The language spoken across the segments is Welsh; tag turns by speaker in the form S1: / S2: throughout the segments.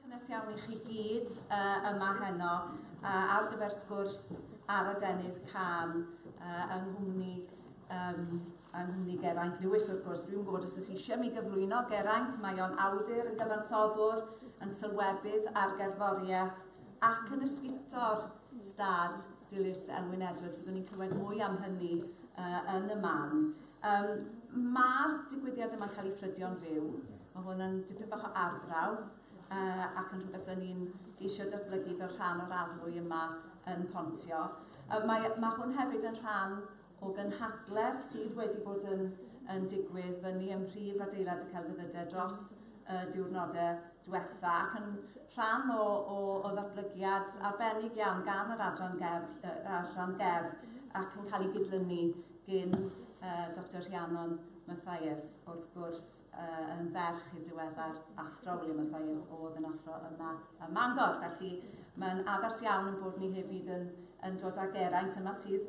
S1: Cynnes iawn i chi gyd uh, yma heno uh, ar gyfer sgwrs ar adenydd can uh, yng nghwmni um, yng nghwmni Geraint Lewis wrth gwrs. Dwi'n gwybod os ydych eisiau mi gyflwyno Geraint, mae o'n awdur yn gyfansoddwr, yn sylwebydd ar gerddoriaeth ac yn ysguto'r stad dilys Elwyn Edwards. Byddwn ni'n clywed mwy am hynny uh, yn y man. Um, Mae'r digwyddiad yma'n cael ei ffrydio'n fyw. Mae hwn yn dipyn bach o arbrawf uh, ac yn rhywbeth dyn ni'n eisiau datblygu fel rhan o'r arlwy yma yn Pontio. Uh, mae, mae hwn hefyd yn rhan o gynhadledd sydd wedi bod yn yn digwydd fyny ym mhrif adeilad y celfyddyde dros y diwrnodau diwetha ac yn rhan o, o, o ddatblygiad arbennig iawn gan yr adran gerdd, uh, adran gerdd ac yn cael ei gydlynu gyn uh, Dr Rhiannon Mathias, wrth gwrs uh, yn ferch i'r diweddar athro William Mathias oedd yn athro yma ym Mangor. Felly mae'n addas iawn yn bod ni hefyd yn, yn dod ag eraint yma sydd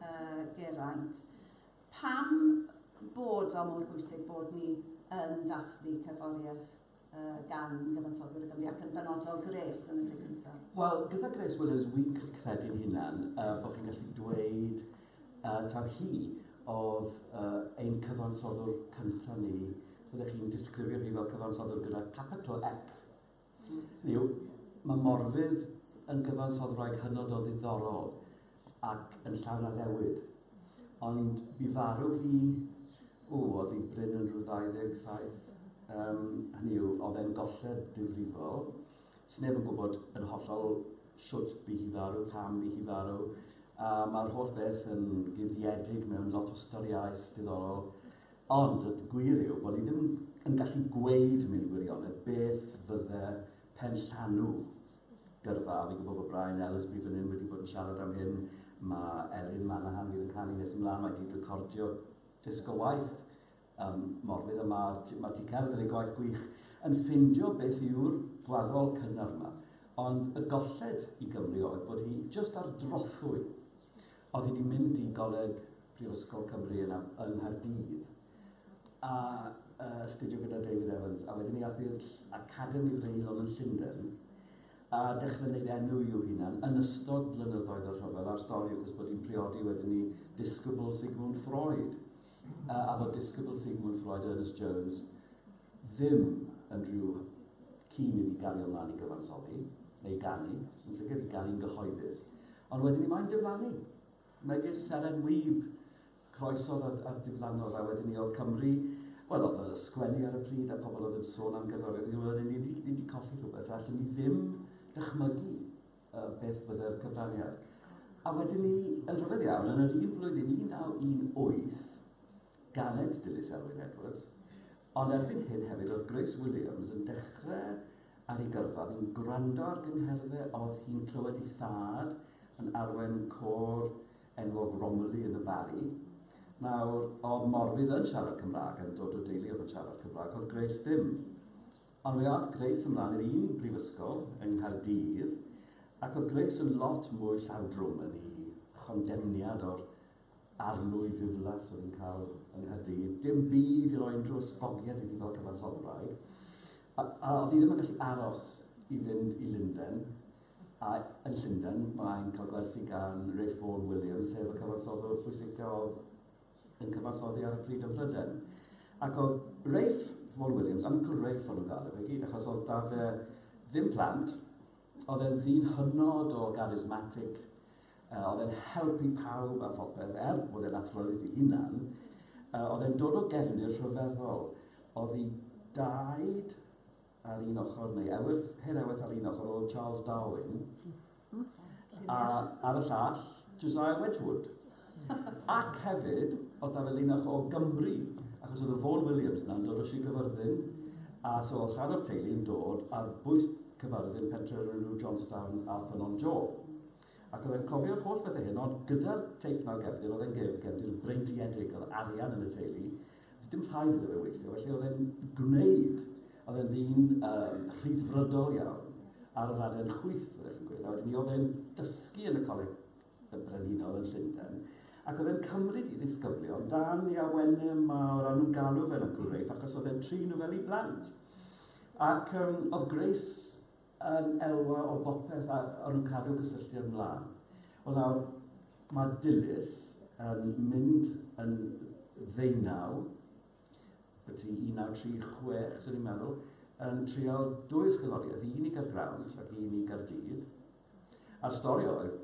S1: Yy, Geraint. Pam bod o mor bwysig bod ni yn dathlu cerddoriaeth uh, gan gyfansoddwyr y Gymru ac yn benodol Grace yn y lle cyntaf? Wel, gyda Grace Willows, wi'n credu'n hunan uh, bod chi'n gallu dweud uh, taw hi oedd uh, ein cyfansoddwr cyntaf ni. Fyddech chi'n disgrifio hi fel cyfansoddwr gyda capital F Mi yw, mae Morfudd yn gyfansoddi wraig hynod o ddiddorol ac yn llawn addewid. Ond bu farw hi, o, oedd hi brin yn rhyw 27, um, hynny yw, oedd e'n golled difrifol. Sneb yn gwybod yn hollol siwt bu hi farw, pam bu hi farw, a mae'r holl beth yn guddiedig mewn lot o storiau diddorol. Ond y gwir yw bod ni ddim yn gallu gweud mewn gwirionedd beth fydde penllanw gyrfa, a fi'n gwybod bod Brian Ellesby fan hyn wedi bod yn siarad am hyn, mae Elin Manahan fydd yn canu nes ymlaen, mae gyd recordio disg o waith um, Morfydd a Mar, mae ti cerdd yn ei gwaith gwych, yn ffindio beth yw'r gwaddol cynnar yma. Ond y golled i Gymru oedd bod hi just ar drothwy Oedd hi 'di mynd i Goleg Prifysgol Cymru yn yng Nghaerdydd a astudio gyda David Evans a wedyn ni ath i'r Academi Wreiddiol yn Llundain a dechrau wneud enw i'w hunan yn ystod blynyddoedd y rhyfel a'r stori wrth gwrs bod hi'n priodi wedyn ni disgybl Sigmund Freud a fod disgybl Sigmund Freud Ernest Jones ddim yn rhyw cyn iddi gario mlaen i gyfansoddi neu ganu, yn sicr i ganu'n gyhoeddus. Ond wedyn ni moyn diflannu. Megis Seren Wib, croeso ar ar diflannodd a wedyn ni o'dd Cymru, wel o'dd y sgwennu ar y pryd a pobl o'dd yn sôn am gerddoriaeth ag oedden ni ni ni di colli rhywbeth a allwn ni ddim dychmygu yy beth fydde'r cyfraniad. A wedyn ni yn rhyfedd iawn yn yr un flwyddyn 1918 Galed, dilys Elwyn Edwards. Ond erbyn hyn hefyd oedd Grace Williams yn dechrau ar ei gyrfa, oedd hi'n gwrando ar gyngherddau, oedd hi'n clywed ei thad yn arwain côr enwog Romilly yn y Barri. Nawr, oedd Morfydd yn siarad Cymraeg, yn dod o deulu oedd yn siarad Cymraeg, oedd Grace ddim. Ond mi aeth Grace ymlaen i'r un brifysgol yng Nghaerdydd, ac oedd Grace yn lot mwy llawdrwm yn ei chondemniad o'r Arlwy ddiflas oedd yn cael yng Nghaerdydd, dim byd i roi unrhyw ysgogiad iddi fel cyfansoddwraig, a, a oedd hi ddim yn gallu aros i fynd i Lundain, a yn Llundain mae'n cael gwersi gan Ray Ford Williams, sef y cyfansoddwr pwysica oedd yn cyfansoddi ar y pryd ym Mhrydain. Ac oedd Rafe Vaughan Williams, Uncle Rafe o'n nhw'n galw fe gyd, achos oedd da fe ddim plant, oedd e'n ddyn hynod o garismatic, Yy, oedd e'n helpu pawb a phopeth, er bod e'n athrolydd ei hunan. Yy, oedd e'n dod o gefndir rhyfeddol. Oedd i daid ar un ochr, neu ewyth, hen ewyth ar un ochr, oedd Charles Darwin, a ar y llall, Josiah Wedgwood. Ac hefyd, oedd da fe linach o Gymru, achos oedd y Vaughan Williams yna'n dod o Sir Gyfyrddin, a so oedd rhan o'r teulu yn dod ar bwys Cyfyrddin, pentre o'r enw Johnstown a Ffynnon Joe. Ac oedd e'n cofio'r holl bethe hyn, ond gyda'r teip 'na o gefndir, oedd e'n ge- gefndir breintiedig, oedd arian yn y teulu, doedd dim rhaid iddo fe weithio, felly oedd e'n gwneud, oedd e'n ddyn um, rhyddfrydol iawn, ar yr aden chwith, byddech chi'n gweud, a wedyn ni oedd e'n dysgu yn y coleg y brenhinol yn Llundain, ac oedd e'n cymryd i ddisgyblion dan ei awenau mawr, a nhw'n galw fe'n Uncle Rafe, achos oedd e'n trin nhw fel i blant. Ac um, oedd Grace yn elwa o bopeth a o'n nhw'n cadw cysylltiad mlaen. Wel nawr, mae Dilys yn mynd yn ddeunaw, byti 1936, swn i'n meddwl, yn trial dwy ysgoloriaeth, un i Gargrawnt ac un i Gardydd. A'r stori oedd,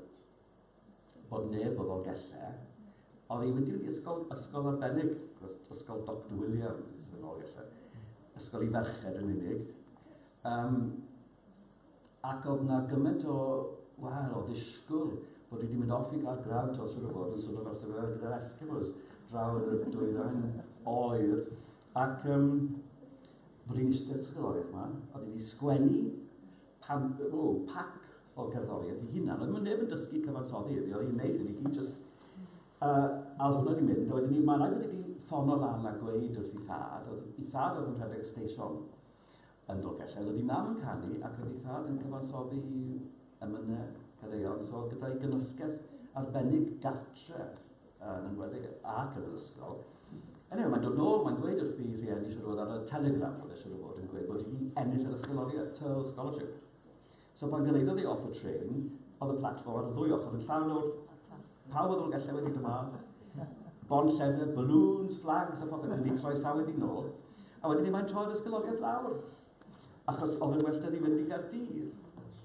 S1: bod neb o Ddolgellau oddi wedi'r ysgol, ysgol arbennig, ysgol Doctor Williams yn Ddolgellau, ysgol i ferched yn unig. Um, ac oedd na gymaint o, wel, o ddisgwyl bod wedi mynd off i gael grant os yw'r fod yn swnio fel sefydliad gyda'r Eskimos draw yn y dwyrain oer. Ac um, bod hi'n eistedd ysgoloriaeth yma, oedd wedi sgwennu pan, oh, pac o gerddoriaeth ei hunan. Oedd neb yn dysgu cyfansoddi iddi, oedd hi'n neud hyn i gyd jyst... Uh, a oedd hwnna wedi mynd, a wedyn ni, mae rhaid bod wedi ffono lan a gweud wrth ei thad, oedd ei thad oedd yn rhedeg y steisiwn yn Dolgellau, oedd ei mam yn canu ac oedd ei thad yn cyfansoddi emynau cadeion, so gyda'i gynysgedd arbennig gartre uh, yn enwedig ac yn yr ysgol. Anyway, mae'n dod nôl, mae'n gweud wrth i rhieni siwr fod ar y telegram oedd e siwr fod yn gweud bod hi wedi ennill yr ysgoloriaeth, Turl Scholarship. So pan gyrhaeddodd e off y trên, oedd y platfform ar y ddwy ochr yn llawn o pawb oedd y Llangellau wedi dod mas, bont llefydd, balloons, flags a phopeth wedi croesawu ddi nôl, a wedyn ni mae'n troi'r ysgoloriaeth lawr, achos oedd yn well da ni fynd i Gaerdydd.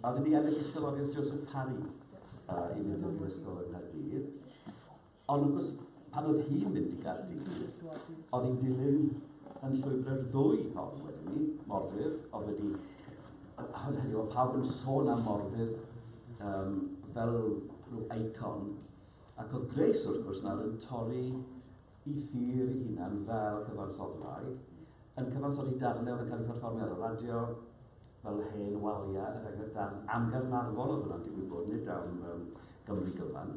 S1: A oedd wedi ennill ysgoloriaeth Joseph Parry uh, i fynd i'r ysgol yn Gaerdydd. Ond wrth gwrs, pan oedd hi'n mynd i Gaerdydd, oedd hi'n dilyn yn llwybr ddwy hon wedyn ni, Morfydd, oedd wedi... Ond heddiw, oedd pawb yn sôn am Morfydd um, fel rhyw eicon, ac oedd Grace, wrth gwrs, nawr yn torri i thir i hunan fel cyfansoddwraig, yn cyfansoddi darnau oedd yn cael ei perfformio ar y radio, fel hen waliau, er enghraifft, darn am Garnarfon oedd hwnna'n digwydd bod, nid am um, Gymru gyfan.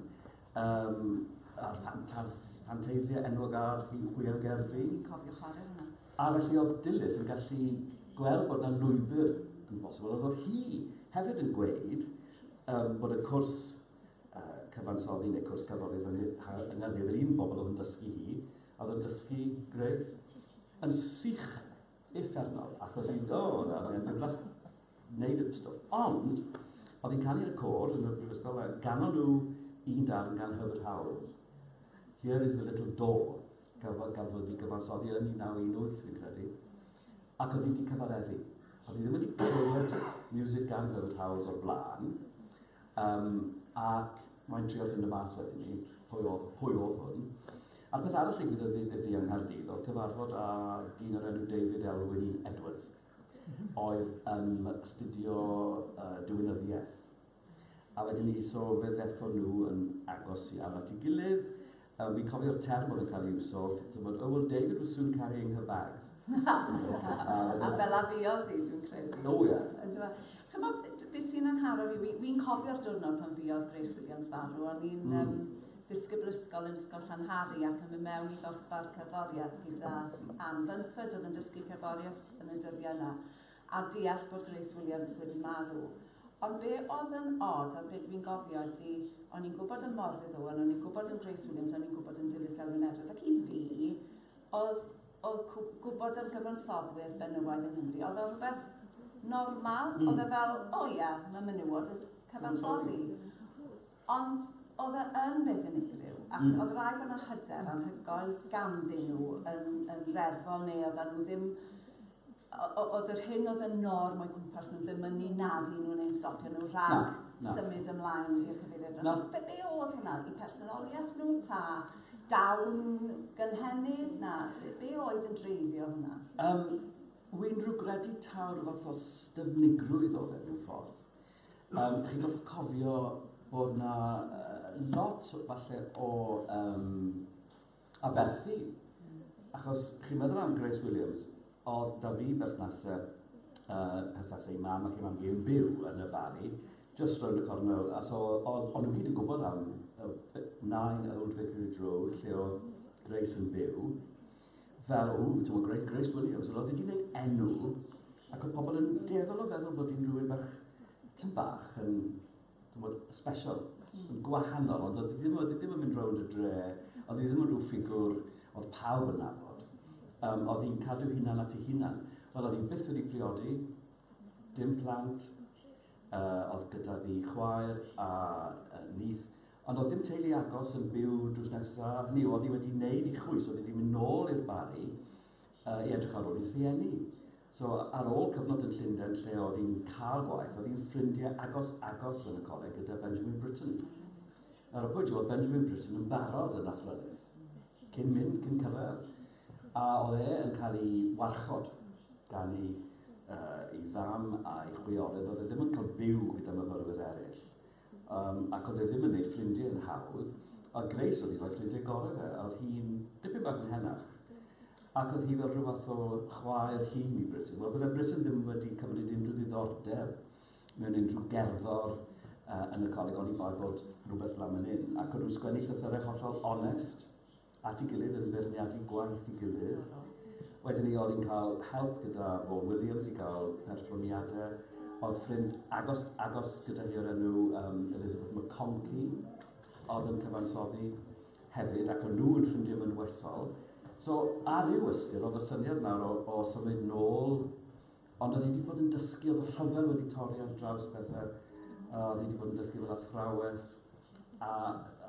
S1: Yym, a'r ffantaz- ffanteisia enwog ar rhyw hwyl gerddi. Fi'n cofio chwarae hwnna. Aralluog Dilys yn gallu gweld bod yna lwybr yn bosibl, ond oedd hi hefyd yn gweud um, bod y cwrs uh, cyfansoddi neu cwrs cyfrolydd fan hyn, yng Nghaerdydd, yr un bobl oedd yn dysgu hi, oedd yn dysgu Grace, yn sych effernol, ac oedd hi'n dod ar y diflas wneud y stwff. Ond, oedd hi'n canu yn y côr yn y brifysgol, a ganon nhw un darn gan Herbert Howells, Here is the little door, gafodd gaf wedi gyfansoddi yn 1918, fi'n credu, ac oedd hi wedi cyfareddu. Oedd hi ddim wedi clywed music gan Herbert Howells o'r blaen, um, ac mae'n trio ffind y mas wedyn ni, pwy oedd, pwy oedd hwn. A'r peth arall ddigwyddodd iddi yng Nghaerdydd oedd cyfarfod â dyn o'r enw David Elwyn Edwards, oedd yn astudio uh, diwinyddiaeth. A wedyn ni, so fe ddethon nhw yn agos iawn at ei gilydd. Um, fi'n cofio'r term oedd yn cael ei iwso, ti'n bod, oh well, David was soon carrying her bags. a fel a fi oedd hi, dwi'n credu. O, ie. Yeah. Chymod, beth sy'n anharo fi, fi'n cofio'r diwrnod pan fi oedd Grace Williams farw, o'n i'n mm. um, disgyblysgol yn Ysgol Llanhari ac yn mynd mewn i ddosbarth cerddoriaeth gyda Anne Bunford oedd yn dysgu cerddoriaeth yn y dyddiau yna a deall bod Grace Williams wedi marw. Ond be oedd yn od, a be dwi'n gofio ydy, o'n i'n gwybod yn Morfudd Owen, o'n i'n gwybod yn Grace Williams, o'n i'n gwybod yn Dilys Elwyn Edwards, ac i fi, oedd, oedd gwybod am gyfansoddwyr benywaidd yng Nghymru, oedd o rhywbeth normal, mm. oedd e fel, o oh, ie, yeah, mae menywod yn cyfansoddi. Ond oedd e yn beth unigryw, ac mm. oedd rhaid bod yna hyder anhygoel ganddyn nhw yn, yn reddfol, neu oedd nhw ddim oedd yr hyn oedd yn norm o'i gwmpas nhw ddim yn ni nad i nhw neu'n stopio nhw rhag na, na. symud ymlaen i'r cyfeiriad. No. Be, be oedd hwnna? I personoliaeth nhw? Ta dawn gynhenid? Na, be, be oedd yn dreifio hwnna? Um, Wy'n rhywgradu tawr fath o styfnigrwydd oedd e mewn ffordd. Yym, chi'n gorfod cofio bod 'na yy lot falle o yym aberthu, achos chi'n meddwl am Grace Williams, o'dd 'da fi berthnase yy perthnase i mam ac i mam fi yn byw yn y Bari, jyst rownd y cornel, a so o'dd o'n nhw gyd yn gwbod am yy yy nine Old Vicarage Road lle o'dd Grace yn byw, fel, ww, ti'n gwybod, Grace Williams, oedd wedi gwneud enw, ac oedd pobl yn dueddol o feddwl bod hi'n rhywun bach, tyn bach, yn, ti'n gwybod, special, hmm. yn gwahanol, ond oedd ddim, oedd ddim yn mynd rownd y dre, oedd ddim yn rhyw ffigwr, oedd pawb yn nabod, um, oedd hi'n cadw hunan at ei hunan. Wel, oedd hi byth wedi priodi, dim plant, uh, oedd gyda ddi chwaer a uh, nith, Ond doedd dim teulu agos yn byw drws nesa, hynny yw, oedd hi wedi neud 'i chwys, oedd hi 'di mynd nôl i'r Barri yy i edrych ar ôl 'i rhieni. So, ar ôl cyfnod yn Llunden lle oedd hi'n cael gwaith, oedd hi'n ffrindie agos agos yn y coleg gyda Benjamin Britten. Nawr, y pwynt yw, oedd Benjamin Britten yn barod yn athrawes, cyn mynd, cyn cyrraedd. A oedd e yn cael ei warchod gan ei yy ei fam a'i chwiorydd, oedd e ddim yn cael byw gyda myfyrwyr eraill. Yym, ac oedd e ddim yn neud ffrindie yn hawdd, a Grace oedd un o'i ffrindie gore fe, a oedd hi'n dipyn bach yn henach. Ac oedd hi fel rhyw fath o chwaer hŷn i Britton. Wel, bydde Britton ddim wedi cymryd unrhyw ddiddordeb mewn unrhyw gerddor uh, yn y coleg, oni bai bod rhywbeth lan yn un. Ac oedd nhw'n sgwennu llythyrau hollol onest. at ei gilydd yn beirniadu gwaith ei gilydd. Wedyn ni oedd hi'n cael help gyda Vaughan Williams i gael perfformiadau. Oedd ffrind agos, agos gyda hi o'r enw um, Elizabeth McConkey, oedd yn cyfansoddi hefyd, ac o'n nhw yn ffrindiau mynwesol. So, ar ryw ystyr, oedd y syniad nawr o, o symud nôl Ond oedd hi 'di bod yn dysgu, oedd y rhyfel wedi torri ar draws pethe, a oedd hi 'di bod yn dysgu fel athrawes, a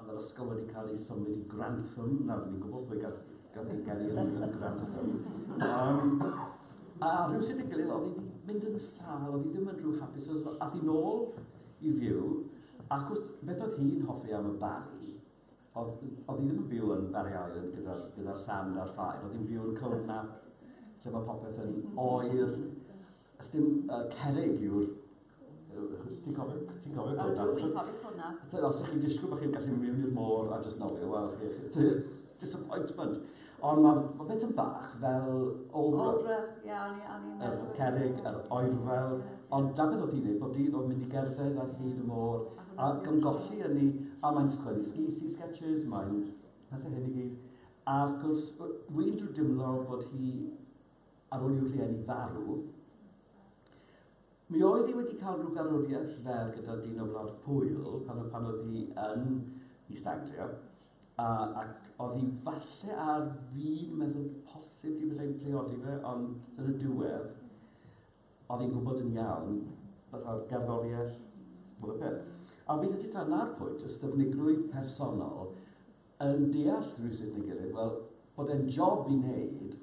S1: oedd yr ysgol wedi cael ei symud i Grantham, nawr dyn ni'n gwybod pwy gath, gath ei geni yn, yn Grantham. Um, a rhywsut y gilydd, oedd hi wedi mynd yn sal, oedd hi ddim yn rhyw hapus, oedd hi nôl i fyw, ac wrth, beth oedd hi'n hoffi am y bari, O'dd, o'dd hi ddim yn byw yn Barry Island gyda'r gyda sand a'r ffair, o'dd hi'n byw yn Cwm Nap, lle mae popeth yn oer. Ys dim uh, cerig yw'r... Ti'n cofio, ti'n cofio Cwm Nap? Dwi'n cofio Cwm Nap. Os ych chi'n disgwyl bod chi'n gallu mynd i'r môr a just nofio, wel, chi, disappointment. Ond ma' ma' fe tym bach fel Aldra. Aldra, ie, o'n i o'n i'n meddwl... Yr cerrig, yr oerfel... Ie, ie. ...ond 'na beth o'dd hi'n neud bob dydd, o'dd mynd i gerdded ar hyd y môr, ac yn golli ynni, a mae'n sgwennu skisi sketches, mae'n pethe hyn i gyd, a wrth gwrs, w- wi'n dw- dimlo bod hi, ar ôl i'w rhieni farw, mi oedd hi wedi ca'l rw garwrieth fer gyda dyn o Wlad Pwyl, pan o- pan o'dd hi yn East Anglia, A, ac oddi falle ar fin meddwl posib y byddai'n priodi fe, ond yn y diwedd, oedd hi'n gwybod yn iawn, fatha'r gerddoriaeth, bod y peth. A fi'n credu ta na'r pwynt, ystyfnigrwydd personol, yn deall rhywsut neu gilydd, wel, bod e'n job i wneud,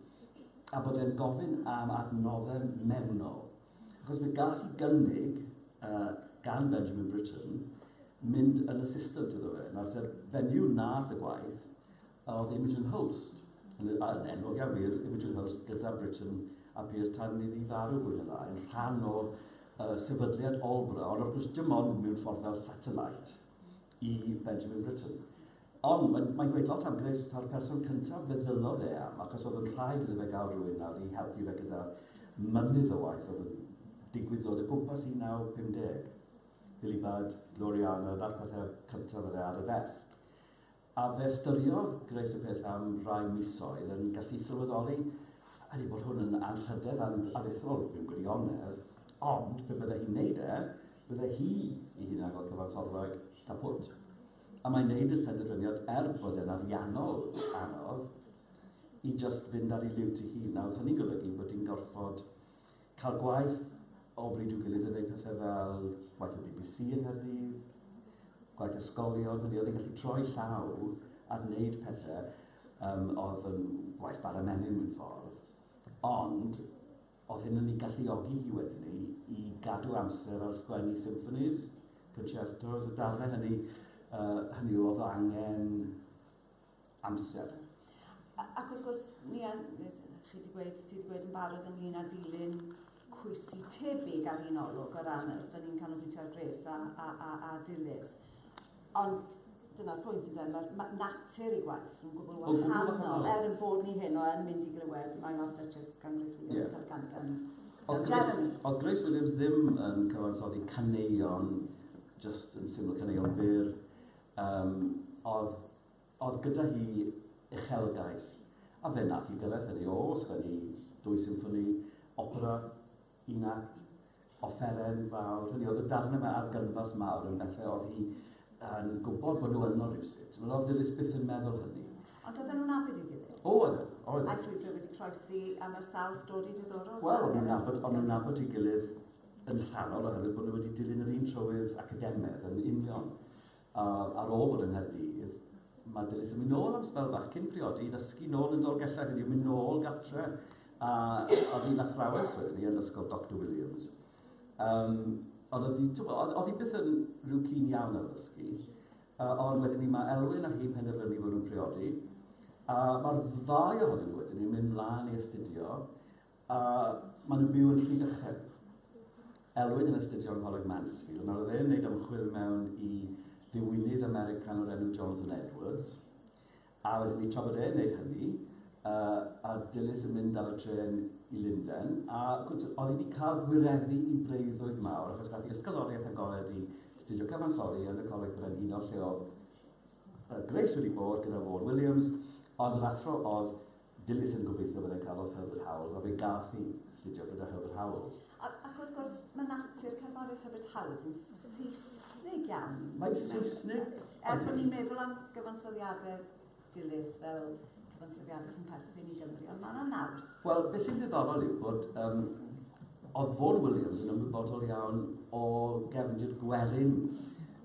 S1: a bod e'n gofyn am adnoddau mewnol. Ac os fe gaf i gynnig uh, gan Benjamin Britten mynd yn assistant iddo fe, nawr te'r fenyw nath y gwaith oedd Imogen Hulst, yn enwog iawn wir, Imogen Hulst gyda Britten a Piers tan ni ddi farw fwy na lai, yn rhan o uh, sefydliad Olbra, ond wrth gwrs dim ond mewn ffordd fel satellite i Benjamin Britton. Ond mae'n mae gweud lot am Grace, ta'r person cyntaf fe ddyllodd e am, achos oedd yn rhaid iddo fe gael rhywun nawr i helpu fe gyda mynydd o waith oedd yn digwydd dod o gwmpas 1950. Billy Budd, Gloriana, na'r pethau cyntaf oedd e ar y ddesg. A fe styriodd Grace y peth am rai misoedd yn gallu sylweddoli ydy bod hwn yn anrhydedd an aruthrol, fi'n gwirionedd, ond pe bydde hi'n neud e, Byddai hi ei hunan fel cyfansoddwraig caput. A mae'n neud i'r penderfyniad er bod e'n ariannol anodd i just fynd ar ei liwt ei hun. A oedd hynny'n golygu bod hi'n gorfod cael gwaith o bryd i'w gilydd yn neud pethau fel gwaith y bbc yng Nghaerdydd, gwaith ysgolion, hynny oedd hi'n gallu troi llaw a wneud pethau um, oedd yn gwaith bara menyn mewn ffordd. Ond Oedd hyn yn ei galluogi hi wedyn i i gadw amser ar sgwennu symffonies, concertos, y darnau hynny, uh, hynny yw, oedd o angen amser. A, ac wrth gwrs, ni a, chi wedi gweud, ti wedi gweud yn barod ynglyn â dilyn cwysi tebyg ar un olwg o ran os da ni'n canolbwyntio ar gres a, a, a, a dilys. Ond dyna'r pwynt, ynde, mae'r ma- natur ei gwaith nhw'n gwbl wahanol. O, gwbl wahanol. Er ein bod ni heno yn mynd i glywed My Last Duchess gan Grace Williams, yeah. cael gan gan, gan Jeremy. Oedd Grace Williams ddim yn cyfansoddi caneuon, just yn syml caneuon byr, um, oedd, oedd gyda hi uchelgais, a fe nath i gyrraedd hynny o sgwennu dwy symffoni, opera, Un akt, offeren fawr, hynny oedd y darnau yma ar gynfas mawr yn bethau oedd hi yn gwybod bod nhw yno rhywsut. Wel, oedd Dilys byth yn meddwl hynny. Ond oedden nhw'n abyd ei gilydd? O, oedden, oedden. A'i llwybr wedi croesi a mae'r sawl stori diddorol. Wel, o'n nhw'n nabod, o'n nhw'n nabod ei gilydd yn rhannol oherwydd bod nhw wedi dilyn yr un trywydd academedd yn union. A ar ôl bod yng Nghaerdydd, mae Dilys yn mynd nôl am sbel bach cyn priodi i ddysgu nôl yn Dolgellau, hynny yw mynd nôl gartre, a oedd hi'n athrawes wedyn ni yn ysgol Doctor Williams. Um, ond oedd hi, oedd hi byth yn rhyw cyn iawn ar ddysgu, uh, ond wedyn ni mae Elwyn a hi'n penderfynu bod nhw'n priodi, a mae'r ddau ohonyn nhw wedyn ni'n mynd mlaen i astudio A maen nhw'n byw yn Rhydychen. Elwyn yn astudio yng Ngholeg Mansfield, nawr oedd e'n gwneud ymchwil mewn i ddiwinydd American o'r enw Jonathan Edwards, a wedyn ni tra bod e'n gwneud hynny, uh, a Dilys yn mynd ar y tren i Linden, a oedd hi wedi cael gwireddu i breuddwyd mawr, achos gath i ysgoloriaeth agored i studio cyfansoddi yn y Coleg Brenhinol lle oedd uh, Grace wedi bod gyda Vaughan Williams, ond yr athro oedd Dilys yn gobeithio fyddai'n cael lot o Herbert Howells, a fe gath hi astudio gyda Herbert Howells. Ac wrth gwrs, mae natur cerddoriaeth Herbert Howells yn Saesnig iawn. Mae'n Saesnig? Er bod ni'n meddwl am gyfansoddiadau Dilys fel cyfansoddiadau sy'n perthyn i Gymru, ond mae yna naws. Wel, beth sy'n ddiddorol yw bod um, oedd Vaughan Williams yn ymwybodol iawn o gefndir gwerin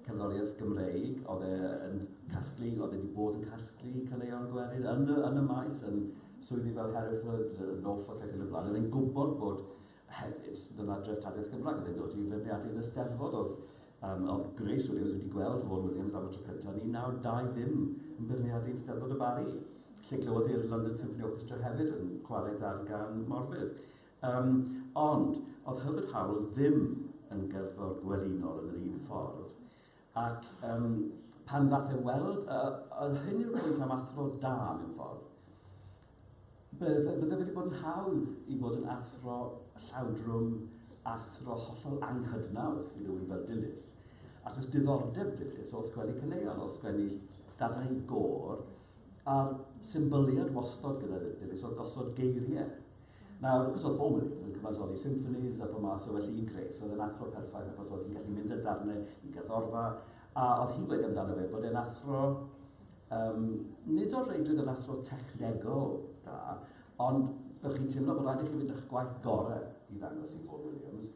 S1: cerddoriaeth Gymreig, oedd e yn casglu, oedd e wedi bod yn casglu caneuon gwerin yn y, yn y maes, yn swyddi fel Hereford, Norfolk ac yn y blaen. Oedd e'n gwybod bod hefyd, dyna dreth tadiaeth Gymraeg, oedd e'n dod i feirniadu yn y steddfod, oedd, um, oedd Grace Williams wedi gweld Vaughan Williams am y tro cyntaf yn 1920 yn beirniadu yn steddfod y Barri, lle glywodd i'r London Symphony Orchestra hefyd yn chwarae darn gan Morfydd. Yym, ond, o'dd Herbert Howells ddim yn gerddor gwerinol yn yr un ffordd, ac yym, pan ddath e weld, a, a hyn yw'r pwynt am athro da, mewn ffordd, bydde, bydde wedi bod yn hawdd i fod yn athro llawdrwm, athro hollol anghydnaws i rywun fel Dilys, achos diddordeb Dilys o'dd sgwennu caneuon, o'dd sgwennu darnau gôr, a'r symbyliad wastod gyda Dilys o'dd gosod geiriau. Nawr, achos oedd Bowman Williams yn cyfansoddi symphonies a pob math, so felly i'n creu, so oedd e'n athro perffaith, achos oedd hi'n gallu mynd â darnau i gerddorfa, a oedd hi'n gweud amdano fe bod e'n athro, um, nid o'r reidrwydd yn athro technegol da, ond bych chi'n teimlo bod rhaid i chi fynd â'ch gwaith gorau i ddangos i Paul Williams,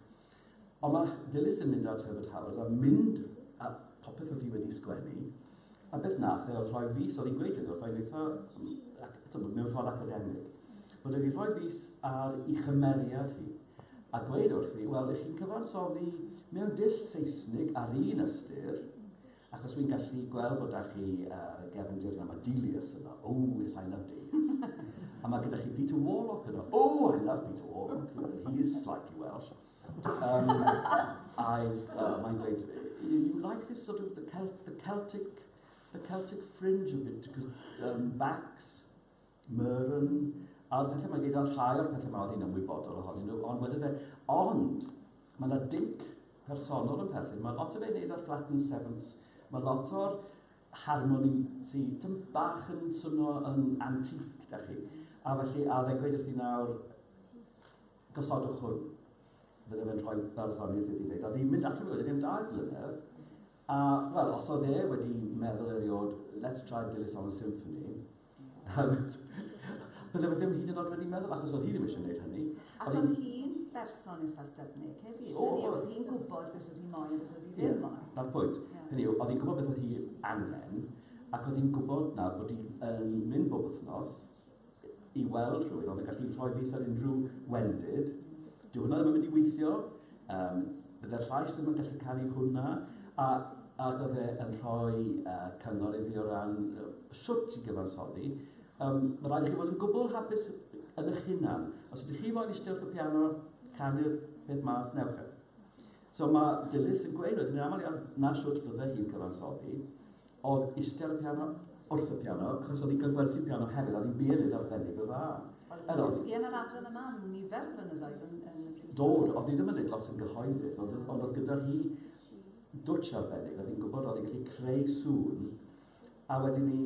S1: Ond mae Dilys yn mynd at Herbert Howes a mynd a popeth oedd hi wedi sgwennu, a beth nath e oedd rhoi fys, oedd hi'n gweud hynny wrtho i'n eitha, eto, mewn ffordd academig, bod wedi rhoi fys ar ei chymeriad hi, a gweud wrthi, wel, ych chi'n cyfansoddi mewn dull Seisnig ar un ystyr, Achos wi'n gallu gweld bod 'da chi yy gefndir yna, ma' Delius yno, oh yes I love Delius! a ma' gyda chi Peter Warlock yno, oh I love Peter Warlock, you know, he is slightly Welsh. Um, I've, uh, mae'n dweud, you, you like this sort of the, Celt, the Celtic the Celtic fringe of it, because um, Bax, Mur yn ail pethau, mae gen i ddal rhai o'r pethau mae oedd hi'n ymwybodol ohonyn nhw, ond wedi fe, ond mae yna dinc personol yn perthyn, mae lot o fe wneud o'r flat and sevenths, mae lot o'r harmoni sy'n tyn bach yn swnio yn antique, da chi. A felly, a fe'n gweud wrth i nawr, gosodwch hwn. Fydde fe'n rhoi barddoniaeth iddi wneud. A ddim mynd ato fe wedi gen dau flynedd. A, wel, os oedd e wedi meddwl eriod, let's try Dilys on a Symphony, Bydde fe ddim hyd yn oed wedi meddwl, achos oedd hi ddim eisiau gwneud hynny. Ac oedd hi'n berson eitha' styfnig hefyd. O! Hynny yw, oedd hi'n gwybod beth oedd hi'n moyn a beth oedd hi ddim yn moyn. Ie, 'na'r pwynt. Hynny yw, oedd hi'n gwybod beth oedd hi angen, ac oedd hi'n gwybod nawr bod hi yn mynd bob wythnos i weld rhywun oedd yn gallu rhoi fys ar unrhyw wendid. Dyw hwnna ddim yn mynd i weithio. Yym, bydde'r llais ddim yn gallu canu hwnna, a, ac oedd e yn rhoi uh, cyngor iddi o ran uh, shwt i gyfansoddi. Um, mae rhaid i chi fod yn gwbl hapus yn eich hunan. Os ydych chi moyn eistedd wrth y piano, canu'r peth mas, newch e. So mae Dilys yn gweud, roedd yn aml iawn, na shwt fydde hi'n cyfansoddi, Odd iste ar y piano, wrth y piano, achos odd 'i ga'l gwersi piano hefyd a odd 'i bierydd arbennig o dda. Odd e'n dysgu yn yr adran yma am nifer o flynyddoedd yn yn y prifysgol. Do, odd 'i ddim yn neud lot yn gyhoeddus ond odd ond odd gyda hi dwtsh arbennig, odd 'i'n gwbod odd 'i'n gallu creu sŵn a wedyn 'ny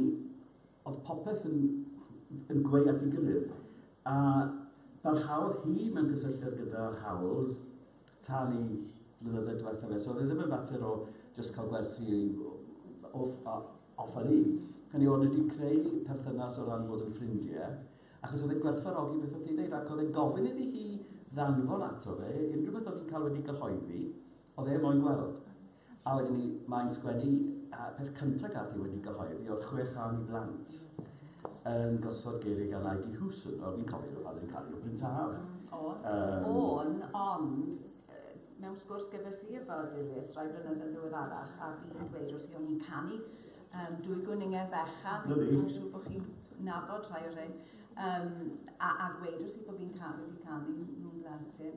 S1: odd popeth yn yn gweu at 'i gilydd a barhaodd hi mewn cysylltiad gyda Howells talu flynydde diwetha fe. So oedd e ddim yn fater o just cael gwersi off, off a leave. Hynny o'n wedi creu perthynas o ran bod yn ffrindiau, achos oedd e'n gwerthfarogi beth oedd hi'n dweud, ac oedd e'n gofyn iddi hi ddanfon ato fe, unrhyw beth oedd hi'n cael wedi gyhoeddi, oedd e moyn gweld. A wedyn 'ny mae'n sgwennu y peth cynta gaf fi wedi gyhoeddi o'dd chwe chân i blant yn gosod geirie gan Ivy Hewson o fi'n cofio fe pan o'dd 'i'n canu o Bryn Taf. Hmm o'n. Yym. O'n ond mewn sgwrs gyfres i efo Dilys rai blynyddoedd ddiweddarach a fi'n dweud wrthi o'n i'n canu yym dwy gwninged fechan. Na fi. Fi'n siŵr bo' chi'n nabod rhai o rhein. Yym a a gweud wrthi bo' fi'n ca- wedi canu nhw'n blentyn.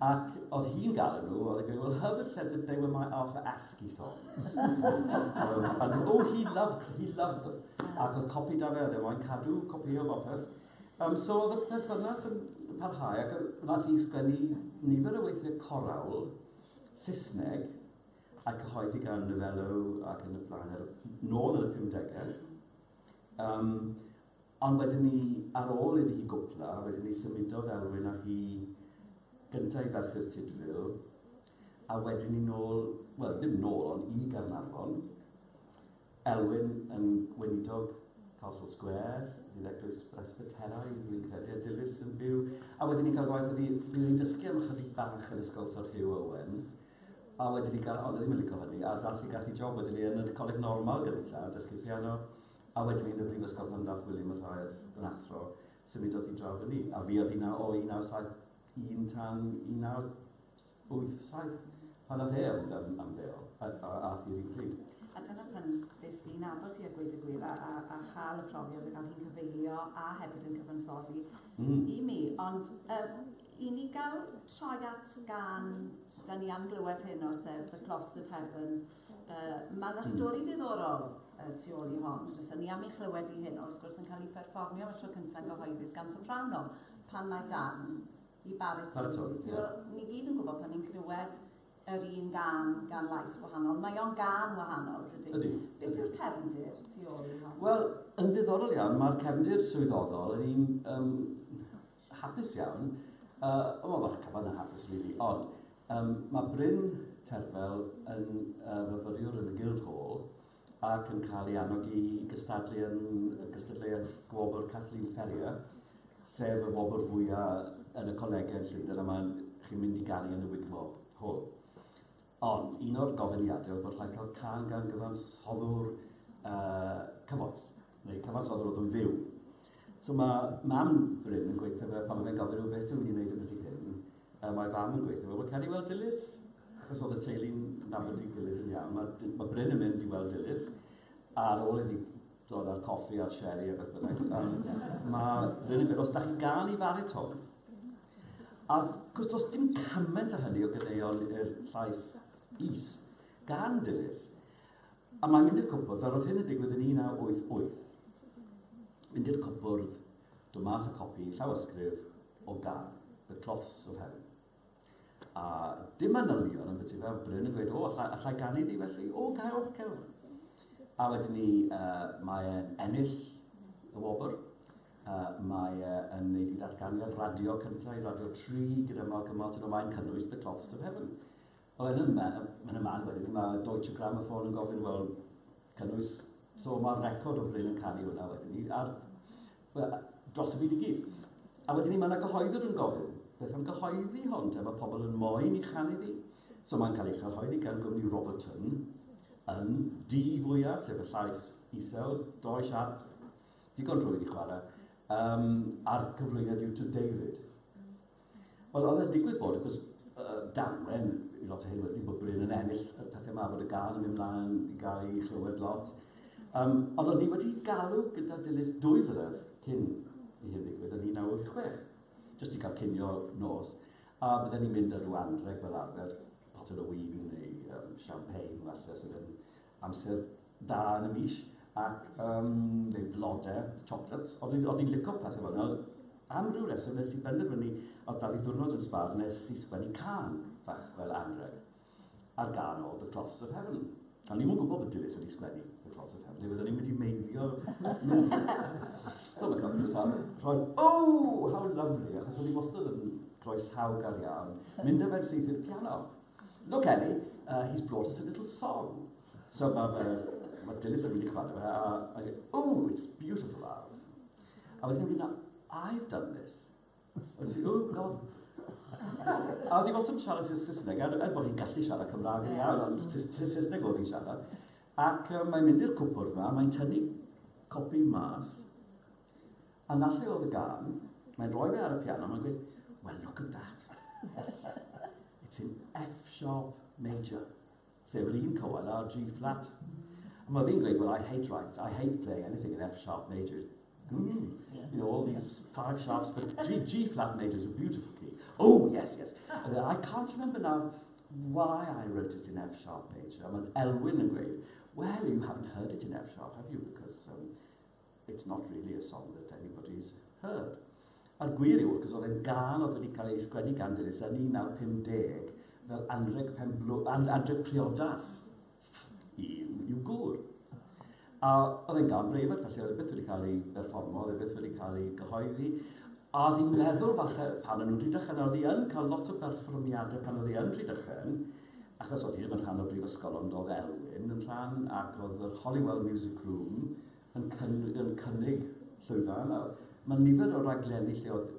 S1: Ac oedd hi'n galw nhw, oedd e'n gweud, well Herbert said that they were my Arthur Askey songs. um, and, oh, he loved, he loved them. Ac oedd copi da fe, oedd e moyn cadw copi o bopeth. Um, so oedd y perthynas yn parhau ac wnaeth hi sgwennu nifer o weithiau corawl Saesneg a'i cyhoeddi gan Novello ac yn y blaen, er, nôl yn y 50au. Um, Ond wedyn 'ny, ar ôl iddi hi gwpla, wedyn 'ny symudodd Elwyn a hi gynta' i Ferthyr Tudful, a wedyn 'ny nôl, wel, ddim nôl, ond i Gaernarfon. Elwyn yn weinidog Castle Square, fydd eglwys Bresbyteraidd, fi'n credu, a Dilys yn byw. A wedyn 'ny cael gwaith oedd hi, bydd hi'n dysgu am ychydig bach yn ysgol Sir Hugh Owen, a wedyn 'ny gael, ond oedd hi'm yn lico hynny, a dath hi, gath hi job wedyn 'ny yn y Coleg Normal gynta', yn dysgu piano. A wedyn yn y brifysgol pan ddaeth William Mathias yn athro, symudodd hi draw 'da ni, a fuodd hi 'na o 1971 tan 1987, pan ath e am am am bêl, a a ath hi yr un pryd. A dyna pan es i'n nabod hi a gweud y gwir, a a a cha'l y profiad o ga'l hi'n cyfeilio a hefyd yn cyfansoddi Mm. i mi. Ond yy i ni ga'l troi at gân 'dan ni am glywed heno sef The Clots of Heaven Uh, mae yna hmm. stori ddiddorol uh, tu ôl i hon. Rwy'n ni am ei chlywed i hyn, wrth gwrs yn cael ei pherfformio am y tro cyntaf yn gyhoeddus gan soprano, pan mae dan i baritwn. Baritwn, ie. Yeah. Ni gyd yn gwybod pan ni'n clywed yr un gan, gan lais wahanol. Mae o'n gan wahanol, dydy? Ydy. Beth yw'r cefndir tu ôl i hon? Wel, yn ddiddorol iawn, mae'r cefndir swyddogol yn un um, Hapus iawn. Yy, wel mae'r cyfan yn hapus rili, ond um, mae Bryn Terfel yn uh, fyfyriwr yn y Guildhall ac yn cael ei annog i gystadlu yn y gystadleuaeth gwobr Kathleen Ferrier, sef y wobr fwyaf yn y colegau yn Llundain a mae chi'n mynd i garu yn y wiglo hwn. Ond un o'r gofyniadau oedd bod rhaid cael can gan gyfansoddwr uh, cyfoes. neu cyfansoddwr o ddwy fyw. So mae mam Bryn yn gweithio fe, pan oedd e'n gofyn, beth yw'n ni'n neud yn byti hyn? Uh, mae fam yn gweithio fe, wel, cael ei weld Dilys, achos oedd y teulu'n nabod i gilydd yn iawn. Mae, mae Bryn yn mynd i weld Dilys, ar ôl iddi dod â'r coffi a'r sherry a beth bynnag. Um, mae Bryn yn gweud, os da chi'n gael i fariton, a cwrs does dim cymaint o hynny o gyneuon i'r llais is gan Dilys, A mae'n mynd i'r cwpwrdd, fel roedd hyn yn digwydd yn 1988. Mynd i'r cwpwrdd, dod mas a copi llawysgrif o gan The Cloths of Heaven. A dim manylion am beth i fel Bryn yn gweud, o, allai, allai ganu di felly? O, cewch, cewch. A wedyn ni, uh, mae e'n ennill y wobr. Uh, mae e yn neud i ddatganiad radio cyntaf i Radio 3 gyda Malcolm Martin, ond mae'n cynnwys The Cloths of Heaven. Wel yn yma, yn y man wedyn, mae Deutsche Grammophon yn gofyn, wel, cynnwys, so mae'r record o Bryn yn caru hwnna wedyn ni, ar, well, dros y byd i gyd. A wedyn ni, mae yna gyhoeddwr yn gofyn, beth am gyhoeddi hon, te, mae pobl yn moyn i chanu ddi. So mae'n cael ei chyhoeddi gan gwmni Roberton yn di fwyaf, sef y llais isel, doi siarp, digon rhwydd i chwarae, um, a'r cyflwyniad yw to David. Ond oedd e'n digwydd bod, achos uh, damwen, i lot o hyn wedi bod bryd yn ennill y pethau yma, bod y gan yn mynd mlaen i gael ei chlywed lot. Um, ond o'n i wedi galw gyda Dilys dwy flynedd cyn i hyn ddigwydd yn 1986, jyst i cael cynio nos. A bydden ni'n mynd ar rhyw anreg fel arfer, botel o wyn neu um, champagne falle, sydd yn Amser da yn y mis ac yym neu blode, chocolates, ond o'n i'n lico peth efo nhw. Am ryw reswm nes i benderfynu o'dd 'da fi ddiwrnod yn sbâr nes i sgwennu cân fach fel anreg ar gân o The Cloths of Heaven. O'n i'm yn gwybod bod Dilys wedi sgwennu The Cloths of Heaven, neu fydden ni'n mynd i meiddio mynd Wel mae Cloths of Heaven roedd oh how lovely achos o'n i wastad yn groesawgar iawn mynd â fe'n syth i'r piano. Look Ellie, uh, he's brought us a little song. So mae fe, mae Dilys yn mynd i cyfadda fe, a mae'n dweud, oh, it's beautiful love. A wedyn mynd, I've done this. A ti'n oh god. A oedd i wastad yn siarad sy'n Saesneg, er, er bod hi'n gallu siarad Cymraeg yn iawn, ond Saesneg oedd hi'n siarad. Ac um, mae'n mynd i'r cwpwrdd yma, mae'n tynnu copi mas, A na lle oedd y gân, mae'n rhoi fe ar y piano, mae'n gweud, well look at that. It's in F sharp major, sef yr un cywael ar G flat. A mae fi'n gweud, well I hate right, I hate playing anything in F sharp major. Mm, you know, all these five sharps, but G, G flat major is a beautiful key. Oh, yes, yes. I can't remember now why I wrote it in F sharp major. A mae Elwyn yn gweud, well, you haven't heard it in F sharp, have you? Because um, It's not really a song that anybody's heard. A'r gwir yw, wrth gwrs, oedd e'n gân oedd wedi cael ei sgwennu gan Dilys yn 1950 fel anrheg penblw, an, anrheg priodas i, i'w gŵr. A oedd e'n gân breifat, felly oedd e byth wedi cael ei berfformo, oedd e byth wedi cael ei gyhoeddi. A oedd hi'n meddwl falle, pan o'n nhw'n Rhydychen, oedd hi yn cael lot o berfformiadau pan oedd hi yn Rhydychen, achos oedd hi ddim yn rhan o brifysgol, ond oedd Elwyn yn rhan, ac oedd yr Holywell Music Room, yn cynnig, yn cynnig llwyfan. Nawr, mae nifer o raglenni lle oedd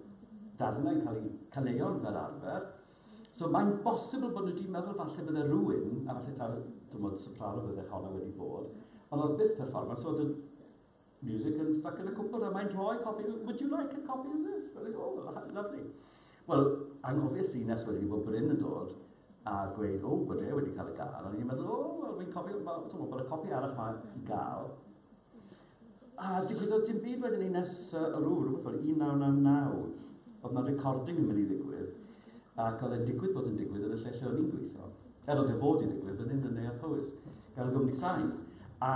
S1: darnau'n cael eu caneuon fel arfer. So mae'n bosibl bod nhw wedi meddwl falle bydde rhywun, a falle taw, dim ond soprano bydde honna wedi bod, ond oedd byth performance, so oedd y music yn stuck yn y cwpwrdd, a mae'n rhoi copi, would you like a copy of this? Fel, oh, lovely. Wel, angofiais i nes wedyn i fod Bryn yn dod a gweud, o, bod e wedi cael y gân, a o'n i'n meddwl, o, wel, fi'n cofio, bod y copi arall yma i gael. A digwyddodd dim byd wedyn i nes uh, o rhyw, rhywbeth fel 1999, oedd yna recording yn mynd i ddigwydd, ac oedd e'n digwydd bod yn digwydd yn y lle lle o'n i'n gweithio. Er oedd e fod i ddigwydd fan hyn yn Neuadd Powys, gan y gwmni sain. A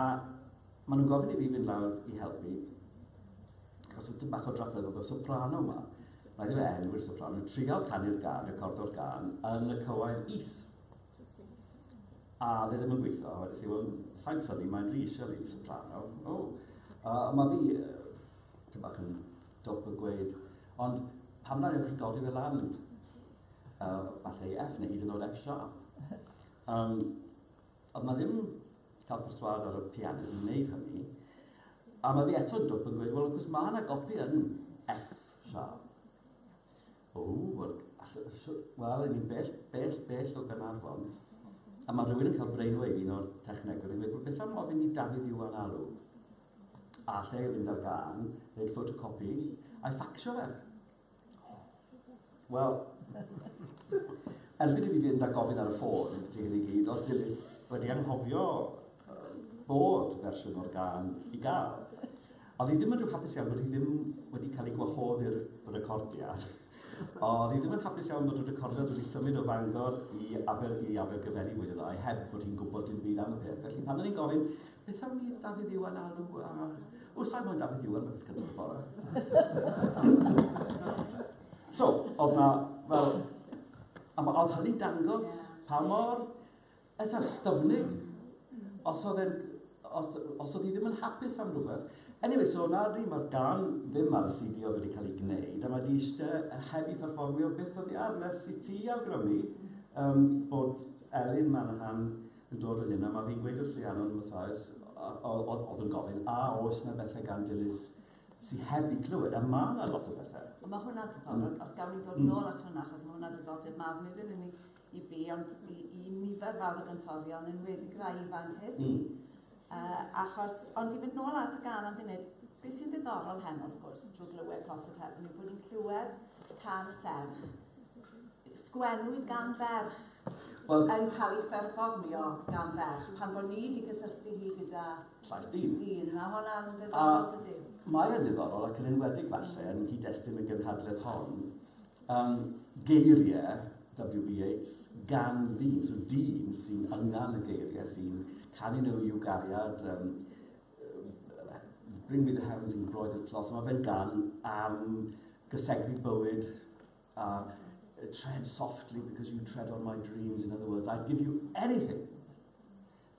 S1: maen nhw'n gofyn i fi fynd lawr i helpu, Achos oedd tipyn bach o drafferth oedd y soprano 'ma, rhaid i fe enwi'r soprano, yn trial canu'r gan, recordo'r gan yn y cywair is. A dde ddim yn gweithio, a wedi si, wel, sa'n syni, mae'n rhi eisiau fi, soprano. O, oh. uh, mae fi, uh, ti'n bach yn dwp yn gweud, ond pam na newch chi godi fe lan, uh, falle i F neu hyd yn oed F sharp. Um, Ond mae ddim cael perswâd ar y piano i wneud hynny. A mae fi eto yn dwp yn gweud, wel, wrth gwrs, mae yna gopi yn F sharp. O, wel, wel, ni'n bell, bell, bell o Ganarfon. A mae rhywun yn cael brainwave un o'r technegwyr yn gweud, beth am ofyn i Dafydd Iwan Alw? A lle i fynd ar gan, wneud ffotocopi, a'i ffacsio fe. Wel, erbyn i fi fynd a gofyn ar y ffôn, ti hyn i gyd, oedd Dilys wedi anghofio bod fersiwn o'r gan i gael. Oedd hi ddim yn rhyw hapus iawn bod hi ddim wedi cael ei gwahodd i'r recordiad. Oedd hi ddim yn hapus iawn bod y recordiad wedi symud o Fangor i Aber i Abergyferi fwy neu lai, heb bod hi'n gwybod dim byd am y peth. Felly pan o'n i'n gofyn, Beth am un Dafydd Iwan Alw a... O, sa'i moyn Dafydd Iwan, mae'n beth gyntaf y bore. so, oedd na, fel, a ma, oedd hynny'n dangos pa mor eitha styfnig, os oedd e'n, os, os oedd hi ddim yn hapus am rhywbeth. Anyway, so na dwi, mae'r gan ddim ar y CD oedd wedi cael ei gwneud, a mae di eisiau heb i performio beth oedd i ar, nes i ti awgrymu um, bod Elin Manahan yn dod o hyn a ma' fi'n gweud wrth Rhiannon fatha oes o- o- o- o'dd yn gofyn a oes 'na bethe gan Dilys sy heb 'u clywed a ma' 'na lot o bethe. A ma' hwnna ddiddorol ond os gawn ni dod nôl at hwnna achos ma' hwnna ddiddordeb mawr nid yn unig i fi ond i i nifer fawr o gantorion enwedig rai ifanc hefyd. Uh, achos, ond i fynd nôl at y gan am funud, beth sy'n ddiddorol heno, wrth gwrs, drwy glywed Cos y Cefn, yw bod ni'n clywed can serch. Sgwennwyd gan ferch well, yn cael ei pherfformio gan ferch, pan bod ni wedi cysylltu hi gyda llais dyn. dyn. Mae hwnna'n ddiddorol, dydy? Mae'n ddiddorol ac yn enwedig falle yn nghyd-destun y gynhadledd hon, Yn geiriau WB Yeats, gan ddyn, so dyn sy'n yngan y geiriau, sy'n canu nhw i'w gariad, um, Bring me the heavens in broad at loss, mae fe'n gan am gysegru bywyd a uh, tread softly because you tread on my dreams, in other words, I'd give you anything,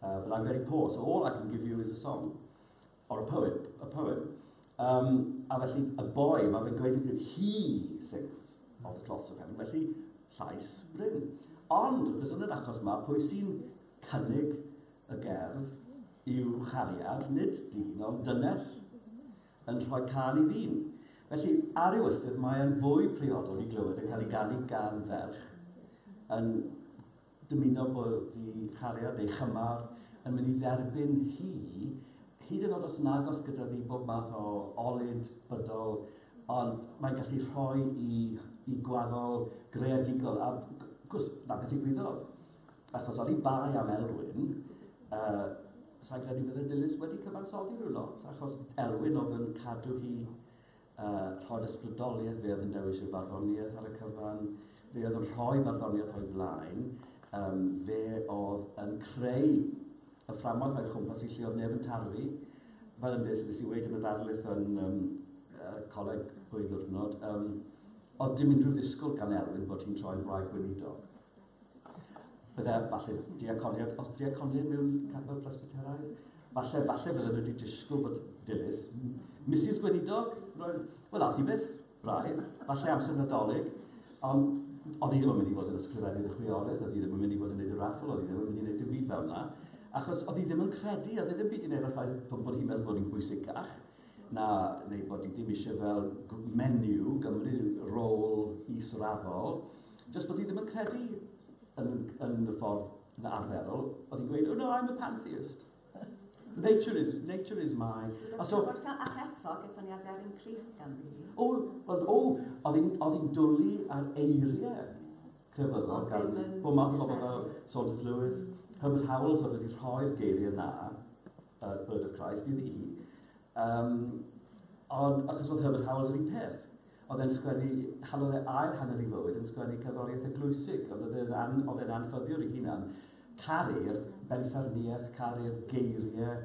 S1: uh, but I'm very poor, so all I can give you is a song. Or a poem, a poem. Um, a felly, y boi, mae fe'n gweud yn he sings of the cloths of heaven, felly llais bryn. Ond, wrth gwrs, yn yr achos yma, pwy sy'n cynnig y gerdd yw chariad, nid dyn, ond dynes, yn rhoi can i ddyn. Felly, ar ei ystyr, mae'n fwy priodol i glywed yn cael ei ganu gan ferch yn Dymuno bod ei chariad, ei chymar, yn mynd i dderbyn hi, hyd yn oed os yn agos gyda ddi bob math o olud bydol, ond mae'n gallu rhoi i, i gwaddol greadigol. A gwrs, na beth ddigwyddodd. Achos oni bai am Elwyn, uh, sa'n credu bydde Dilys wedi cyfansoddi rhyw lot, achos Elwyn oedd yn cadw hi A rho'r ysbrydoliaeth, fe oedd yn dewis ei farddoniaeth ar y cyfan, fe oedd yn rhoi barddoniaeth o'i flaen, um, fe oedd yn creu y fframwaith o'i chwmpas i lle oedd neb yn tarfu. Fel yn beth nes i wedi yn y ddarlith yn um, uh, coleg ddwy ddwrnod, um, oedd dim unrhyw ddisgwyl gan Elwyn bod hi'n troi'n wraig gweinidog. Bydde, falle, diaconiad, os diaconiad mewn capel presbyteraidd, falle, falle bydde nhw wedi disgwyl bod dilys. Mrs Gweinidog, roedd, wel, ath i byth, braidd, falle amser nadolig, ond oedd hi ddim yn mynd i fod yn ysgrifennydd y chwiorydd, oedd hi ddim yn mynd i fod yn neud y raffl, oedd hi ddim yn mynd i neud dim byd fel yna, achos oedd hi ddim yn credu, oedd hi ddim byd yn ei raffael bod hi'n meddwl bod hi'n bwysicach, na, neu bod hi ddim eisiau fel menu gymryd rôl israddol, Jyst bod hi ddim yn credu yn, yn y ffordd na arferol, oedd hi'n gweud, oh no, I'm a pantheist. Nature is, nature is my... A so... Ac eto, gyffyniadau ar un Christ gan fi. O, wel, o, oedd hi'n dwlu ar eiriau crefyddol gan bod math o bobl fel Saunders Lewis, Herbert Howell, so wedi rhoi'r geiriau na, uh, Bird of Christ, iddi hi. Um, ond achos oedd Herbert Howell yr un peth. Oedd e'n sgwennu, halodd e ail hanner ei fywyd yn sgwennu cerddoriaeth eglwysig, ond oedd e'n an- oedd e'n anffyddiwr ei hunan. Caru'r bensaernïaeth, caru'r geiriau.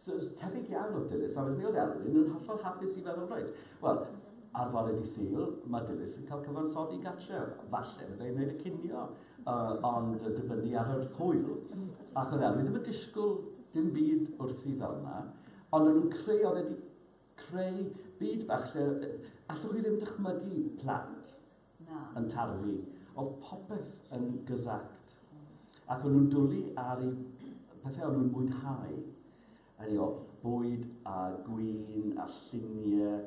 S1: So, it's tebyg iawn oedd Dilys, a wedyn mi oedd Elwyn yn hollol hapus i feddwl, reit, wel, ar fore di Sul, mae Dilys yn cael cyfansoddi gatre, falle fydde i'n gwneud y cinio, uh, ond uh, dibynnu ar yr hwyl. Ac oedd Elwyn ddim yn disgwyl dim byd wrthi fel yna, ond o'n nhw'n creu, oedd wedi Creu byd bach lle allwch chi ddim dychmygu plant yn tarfu. Oedd popeth yn gysact. Ac o'n nhw'n dwlu ar eu pethau o'n nhw'n mwynhau. Hynny yw, bwyd a gwin a lluniau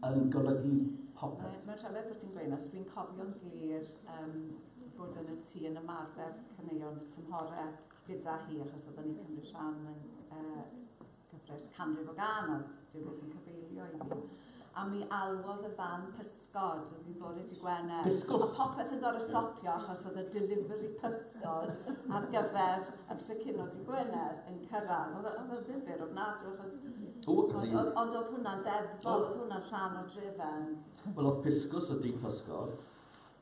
S1: yn golygu popeth. Mae'n rhyfedd bod ti'n gweud yna, achos dwi'n cofio'n glir um, bod yn y tŷ yn ymarfer caneuon y tymhorau gyda hi, achos oedden ni'n cymryd rhan yn uh, Cyfres canrif o ganoedd, dyw beth sy'n cyfeilio i fi. A mi alwodd y fan pysgod, oedd hi'n bore ti Gwener. Pysgod? A popeth yn gorau stopio achos oedd y delivery pysgod ar gyfer amser cino di Gwener yn cyrraedd. Oedd oedd o'n ddifur ofnadw achos... O, oedd hi'n... Ond ond oedd hwnna'n ddeddfol, oedd hwnna'n rhan o drefen. Wel, oedd pysgod o di pysgod.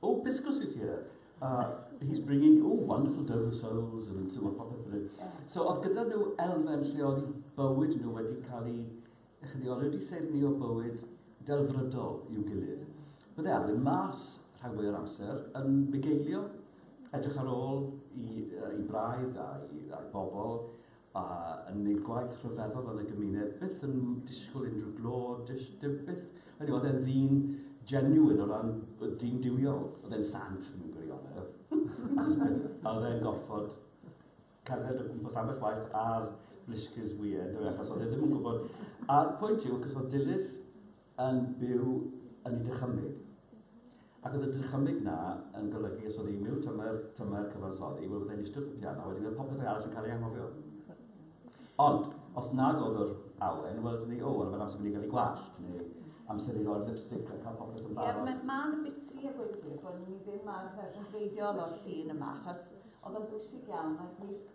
S1: Oh Piscus is here. Uh, he's bringing, oh, wonderful dough of souls, and so on, popeth fel So oedd gyda nhw elfen lle oedd bywyd nhw wedi cael ei, ych chi, oedd wedi seirni o bywyd delfrydol i'w gilydd. Bydde Alwyn mas rhag fwy o'r amser yn bugeilio, edrych ar ôl i, uh, i braidd a'i, a'i bobl, a yn neud gwaith rhyfeddol yn y gymuned, byth yn disgwyl unrhyw glo, dis, dim byth, hynny, oedd e'n ddyn genuine o ran dyn diwiol, oedd e'n sant mewn gwirionedd, achos byth, a oedd e'n gorfod cerdded o gwmpas ambell waith ar bliscus weird, achos oedd e ddim yn gwybod, a'r pwynt yw, cos oedd dilys yn byw yn ei dychymyg. Ac oedd y dychymyg 'na yn golygu os oedd hi'n miwn tymer, tymer cyfansoddi, wel byddai'n eistedd wrth y piano, wedyn oedd popeth arall yn cael ei anghofio. Ond, os nag oedd yr awen, wel ydyn ni, o, wel mae'n amser mynd i gael ei gwallt, neu amser i roi'r lipstick a cael popeth yn barod. Ie, mae'n biti a gweithwyr bod ni ddim ar y rhan o'r llun yma, achos oedd o'n bwysig iawn, mae'r gwisg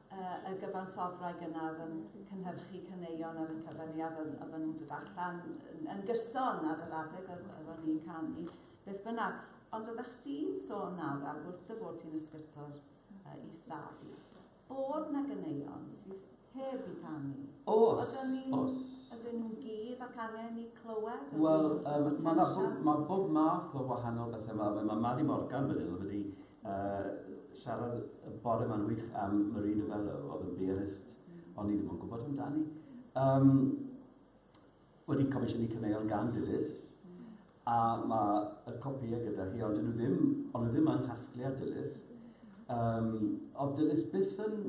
S1: y y gyfansoddwraig yna oedd yn cynhyrchu caneuon ar y cyfer ni a oedd yn dod allan yn, yn gyson ar yr adeg oedd, oedd o'n i'n canu. Beth bynnag, ond oeddech ti'n sôn nawr ar wrth dy fod ti'n ysgytor uh, i stad i, bod na gyneuon sydd heb i canu. Os, Ydyn ni'n, os. Ydyn nhw'n gydd ac angen i clywed? Wel, um, mae ma bob, ma bob math o wahanol bethau yma. Mae ma Mari Morgan fan hyn wedi Uh, siarad y bore ma'n wych am Marie Novello, oedd yn beerist, ond ni ddim yn gwybod amdani. Um, wedi comisiynu caneuon gan Dilys, a mae y copïau gyda hi, ond nhw ddim, ond nhw ddim yng nghasgliad Dilys. Um, oedd Dilys byth yn...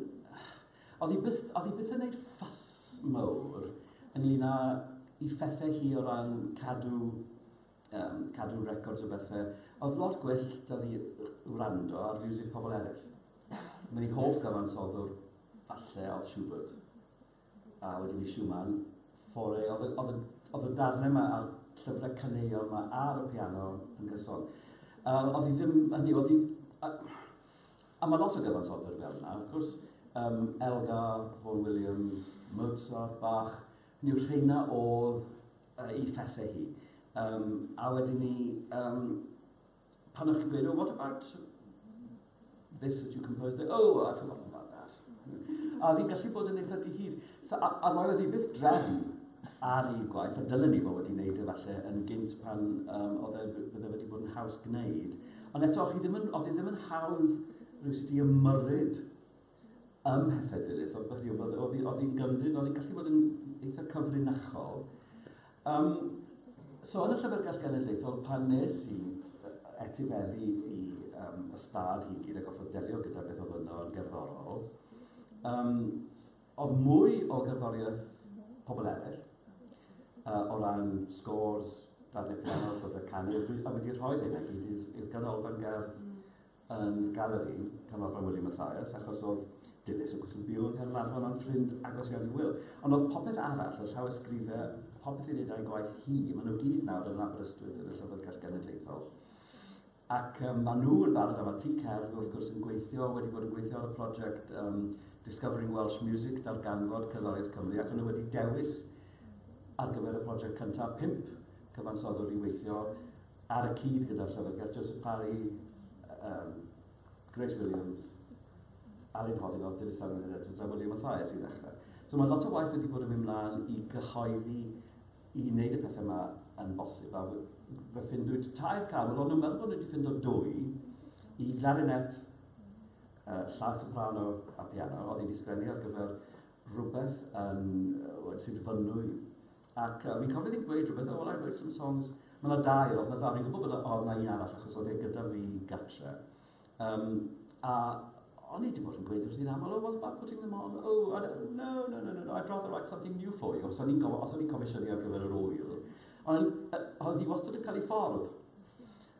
S1: Oedd hi byth, oedd hi byth yn gwneud ffas mawr ynglyn â i phethau hi o ran cadw Yym, cadw records o bethe. Oedd lot gwell da fi wrando ar fiwsig pobl eraill. Mae'n ei hoff gyfansoddwr, falle, oedd Schubert. A wedyn i Schumann, fore, oedd y darnau yma a'r llyfrau caneuon yma ar y piano yn gyson. Um, oedd hi ddim, hynny, oedd hi... A, a mae lot o gyfansoddwyr fel yna, wrth gwrs, um, Elgar, Vaughan Williams, Mozart, Bach, hynny yw rheina oedd yy, i phethe hi. Um, a wedyn ni, um, pan o'ch chi'n gweud, oh, what about this that you composed? Oh, I've forgotten about that. a fi'n gallu bod yn eitha dihir. So, a, a roedd hi byth drefn ar un gwaith, a dylen ni fod wedi wneud efallai yn gynt pan um, oedd e bydde wedi bod yn haws gwneud. Ond eto, oedd hi ddim yn, oedd hi ddim yn hawdd rhywsut i ymyrryd ym Mhethe Dilys, ond hynny yw, oedd, oedd, oedd hi'n gymryd, oedd hi'n gallu bod yn eitha cyfrinachol. Um, so yn y Llyfrgell Genedlaethol, pan nes i etifeddu i um, ystad hi gyd a gofod delio gyda beth oedd yno yn gerddorol, um, oedd mwy o gerddoriaeth pobl eraill, uh, o ran scores, darnau piano, llyfrau canu, a wedi rhoi hynna gyd i'r ganolfan gerdd yn galeri Canolfan Wiliam Mathias, achos oedd Dilys o Gwsl Byw yng Nghaernarfon yn ffrind agos iawn i Wil. Ond oedd popeth arall, y llawysgrifau, popeth i wneud â'i gwaith hi, maen nhw gyd nawr yn Aberystwyth yn y Llyfrgell Genedlaethol. Ac um, maen nhw yn barod am y tŷ cerdd, wrth gwrs, yn gweithio, wedi bod yn gweithio ar y prosiect um, Discovering Welsh Music, darganfod cerddoriaeth Cymru, ac nhw wedi dewis ar gyfer y prosiect cyntaf pimp cyfansoddwr i weithio Ar y cyd gyda'r Llyfrgell, Joseph Parry, um, Grace Williams, Alun Hoddinott, Dilys Llan Menhir Edwards a William Mathias i ddechrau. So mae lot o waith wedi bod yn mynd mlaen i gyhoeddi i wneud y pethau yma yn bosib. A fe ffindwyd tair cam, ond nhw'n meddwl bod nhw wedi ffindo dwy i glarinet, uh, llaw soprano a piano, oedd wedi sgwennu ar gyfer rhywbeth yn, uh, sydd fynnwy Ac yy fi'n cofio ddim gweud rhywbeth, oh well I wrote some songs. Ma' 'na dau, o'dd 'na ddau, fi'n gwbo bo' 'na o'dd 'na un arall achos o'dd e gyda fi gatre. Yym a o'n i 'di bod yn gweud wrthi'n amal, oh what about putting them on, oh I don't, no no no no I'd rather write something new for you, os o'n i'n go- os o'n i'n comisiynu ar gyfer yr ŵyl. Ond yy o'dd hi wastad yn ca'l 'i ffordd.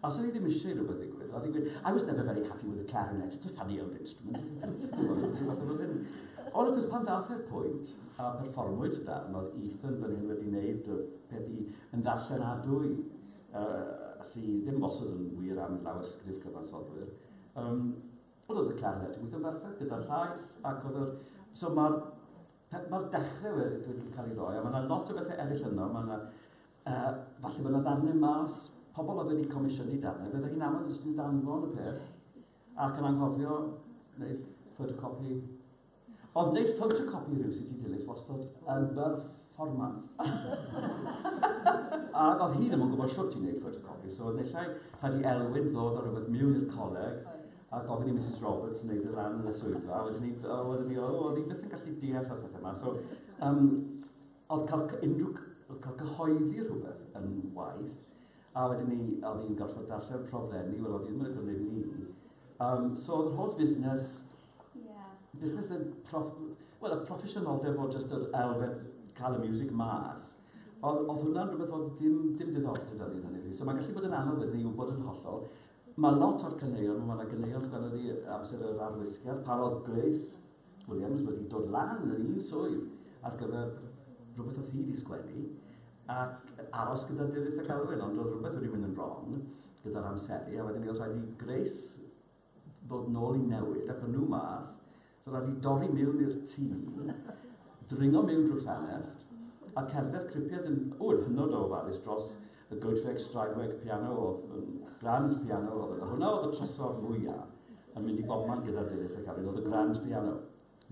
S1: Os o'n i ddim eisiau i rywbeth ddigwydd, oedd hi'n gweud, I was never very happy with the clarinet, it's a funny old instrument, isn't it? Dwi'n gwybod, dwi'n gwybod efo hyn. Ond wrth gwrs, pan ddath e'r pwynt, a perfformwyd y darn, oedd Ethan fan hyn wedi wneud y peth i yn ddarllenadwy, uh, sydd ddim wastad yn wir am lawysgrif cyfansoddwyr. Um, ond oedd y clarinet yn gweithio'n berffaith gyda'r llais, ac oedd yr... So mae'r Pe- fel dechre we- dwi wedi cael ei roi, a ma' 'na lot o bethe eryll yno, ma' 'na yy falle bo' 'na ddarne mas, pobol oedd wedi comisiynu darne, bydde hi'n anodd jyst yn danfon y peth ac yn anghofio wneud photocopi. Oedd wneud photocopi rhyw sy'n ti dilys wastod yn berfformans. Ac oedd hi ddim yn gwybod shwt i wneud photocopi, so oedd nillai rhaid i Elwyn ddod â rhywbeth miwn i'r coleg a gofyn i Misus Roberts neud y lan yn y swyddfa a wedyn 'ny o wedyn 'ny o o o'dd 'i byth yn gallu deall o'r pethe 'ma so yym o'dd ca'l cy- unryw cy- o'dd ca'l cyhoeddi rhwbeth yn waeth a wedyn 'ny o'dd 'i'n gorffod darllen rhofrenni wel o'dd 'i ddim yn y Gymru ni yym so o'dd yr holl fusnes Ie. Busnes yn proff- wel y proffesiynoldeb o jyst yr elfen ca'l y miwsig mas o'dd o'dd hwnna'n rwbeth o'dd dim dim diddordeb 'da fi hynny yw so ma'n gallu bod yn anodd wedyn 'ny i wbod yn hollol Mae lot o'r caneuon, mae 'na ganeuon sy'n anodd i amser yr arwisgiad, pan oedd Grace Williams wedi dod lan yn un swydd ar gyfer rhywbeth oedd hi wedi sgwennu, ac aros gyda Dilys ac Alwyn, ond oedd rhywbeth wedi mynd yn wrong gyda'r amseru, a wedyn mi oedd rhaid i Grace ddod nôl i newid, ac o'n nhw mas, Dyla fi dorri miwn i'r tŷ, dringo miwn drwy'r ffenest, a cerdded cripiad yn... O, yn hynod o ofalus dros y goedwig straenweg piano oedd yn grand piano oedd yna. Hwnna oedd y trysor mwya yn mynd i bobman gyda Dilys ac Alun oedd y grand piano.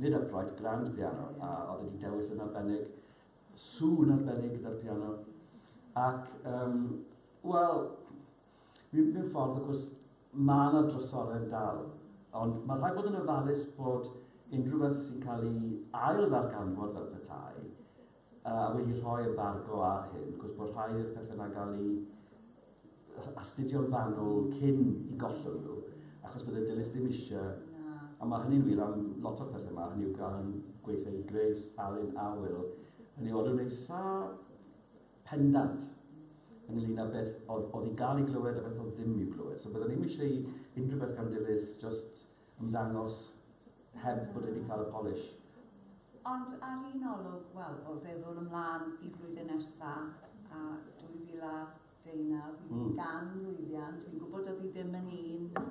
S1: Nid upright, grand piano, a oedd wedi dewis yn arbennig, sŵn arbennig gyda'r piano. Ac, um, wel, Mewn ffordd, wrth gwrs, mae yna drysorau'n dal, ond mae rhaid bod yn ofalus bod unrhyw beth sy'n cael ei ail-ddarganfod fel petai, a wedi rhoi embargo ar hyn, wrth gwrs bod rhai o'r pethau yna'n cael ei astudio'n fanwl cyn i gollwng nhw, achos bydde Dilys ddim eisiau, a mae hynny'n wir am lot o'r pethau yma, hynny yw gael yn gweithio i Grace, Alun a Wil, hynny yw, oedd nhw'n eitha Pendant. Ynglŷn â beth oedd oedd i gael ei glywed a beth oedd ddim i'w glywed. So byddwn ni'm eisiau i unrhyw beth gan Dilys just ymddangos heb bod e wedi cael y polish. Ond ar un olwg, wel, o feddwl ymlaen i flwyddyn nesa a 2019, fi mm. gan lwyddiant, fi'n gwybod oedd hi ddim yn un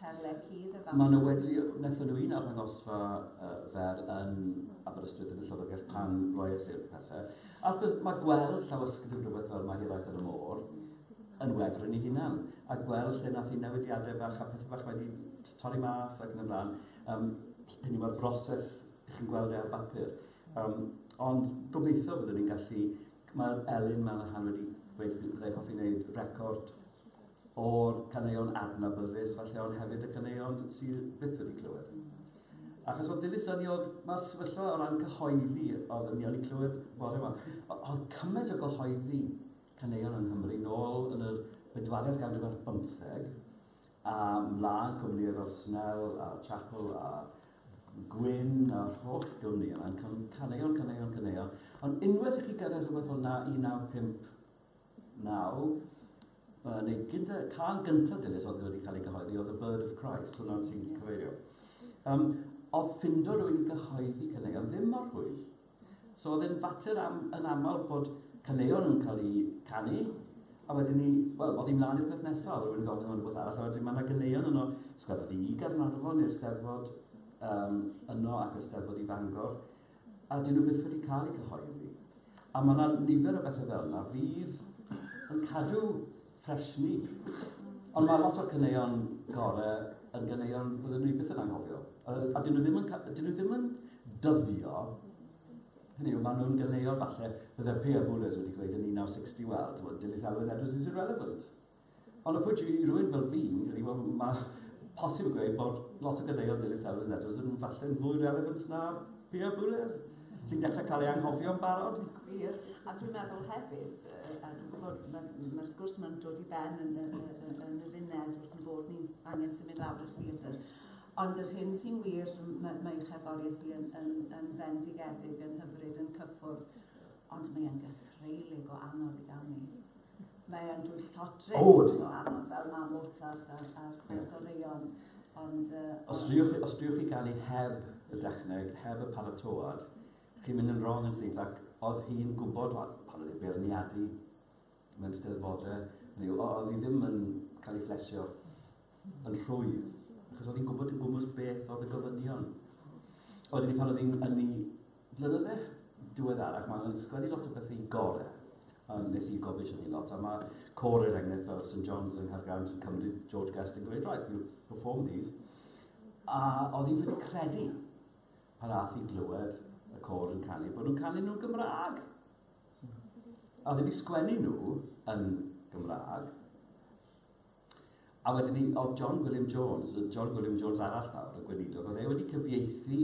S1: Perle cudd y fam. Mae 'na wedi, wnaethon nhw un arddangosfa fer yn Aberystwyth yn y Llyfrgell pan roies i'r pethe. A mae gweld llawysgrif rhywbeth fel mae Hiraeth ar y Môr yn wefryn ei hunan. A gweld lle nath hi newidiadau bach a pethau bach wedi torri mas ac yn y blaen, um, hynny mae'r broses i chi'n gweld e ar bapur. Um, ond gobeithio byddwn ni'n gallu, mae Elin Manahan wedi gweithio, byddai hoffi wneud record o'r caneuon adnabyddus falle ond hefyd y caneuon sydd byth wedi clywed. Achos oedd dilys ynni oedd mae'r sefyllfa o ran cyhoeddi o ddynion i clywed bore yma. Oedd cymaint o gyhoeddi caneuon yng Nghymru nôl yn yr bedwaredd ganrif ar bymtheg a mlaen cwmnïau fel Snell a Chapel a Gwyn a'r holl gwmni yna, caneuon, caneuon, caneuon. Ond unwaith i chi gyrraedd rhywbeth fel 1950, Nawr, uh, neu gyda cael gyntaf dilys oedd wedi cael ei gyhoeddi oedd y Bird of Christ, hwnna ti'n yeah. cyfeirio. Um, oedd ffindo rwy'n i gyhoeddi caneuon ddim mor hwyl. So oedd e'n fater am, yn aml bod caneuon yn cael ei canu, a wedyn ni, wel, oedd hi'n mlaen i'r peth nesaf, rwy'n yn gofyn am rhywbeth arall, a wedyn mae yna ganeuon yno, sgwefod i Garnarfon i'r steddfod um, yno ac y steddfod i Fangor, A 'dyn nhw byth wedi cael eu cyhoeddi. A mae yna nifer o bethau fel yna fydd yn cadw ffres ni. Ond mae lot o'r caneuon gore yn ganeuon byddwn ni byth yn anghofio. A, a dyn nhw ddim yn, dyn nhw ddim yn dyddio Hynny yw, maen nhw'n ganeuon falle, bydde Pia Boules wedi gweud yn 1960, wel, ti'n bod, Dilys Alwyn Edwards is irrelevant. Ond pwy yw rhywun fel fi, ydy, wel, mae posib yn gweud bod lot o gadeuon dilys Elfyn Edwards yn falle'n fwy relevant na Pierre Boulez, sy'n dechrau cael ei anghofio yn barod. Gwir, a dwi'n meddwl hefyd, a dwi'n gwybod mae'r ma sgwrs yma'n dod i ben yn, yn, yn, yn y funed wrth yn bod ni'n angen symud lawr i'r theatr. Ond yr hyn sy'n wir, mae, mae ei cherddoriaeth hi yn, yn, yn fendigedig, yn hyfryd, yn cyffwrdd, ond mae'n gythreilig o anodd i gael ni. Mae o'n dwyllodrwydd oh. teimlo am fel ma Mozart a'r, ar yeah. goreuon. Ond, uh, os, driwch, os driwch chi ganu heb y dechneg, heb y paratoad, chi'n mynd yn wrong yn syth ac oedd hi'n gwybod pan oedd ei beirniadu mewn steddfodau, oedd hi ddim yn cael ei fflesio yn rhwydd, achos oedd hi'n gwybod yn gwmwys beth oedd y gofynion. Oedden ni pan oedd hi'n ynni flynydde diweddarach, mae hi'n sgwennu lot o bethau i gore, a nes i gofio eisiau ni lot, a mae cor er enghraifft fel St John's yng Nghaergrawnt yn cymryd George Guest yn gweud, right, you perform these. A oedd hi'n ffili credu pan ath i glywed y cor yn canu, bod nhw'n canu nhw'n Gymraeg. A oedd hi'n sgwennu nhw yn Gymraeg, A wedyn 'ny o'dd John Gwilym Jones, yy John Gwilym Jones arall nawr, y gweinidog, o'dd e wedi cyfieithu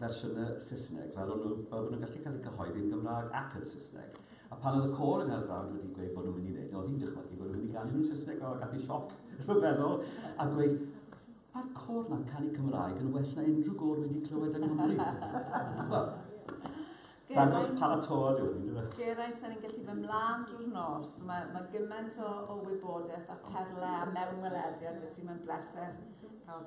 S1: fersiynne Saesneg, fel o'n nw, fel bo' nw'n gallu ca'l 'u cyhoeddi yn Gymrâg ac yn Saesneg. A pan o'dd y côr yng Nghaergrawnt wedi gweud bo' nw myn' i neud e, o'dd 'i'n dychmygu bo' nw myn' i ganu nw'n Saesneg, o, gath 'i sioc rhyfeddol, a gweud, Ma'r côr 'na'n canu Cymraeg yn well na unrhyw gôr wi 'di clywed yng Nghymru. Wel, Dangos y paratod yw hwn, yn dyfe? Geraint, sa'n ni'n gallu fy mlaen drwy'r nos. Mae, mae gymaint o, o wybodaeth a perle a mewnwelediad i ti. Mae'n bleser cael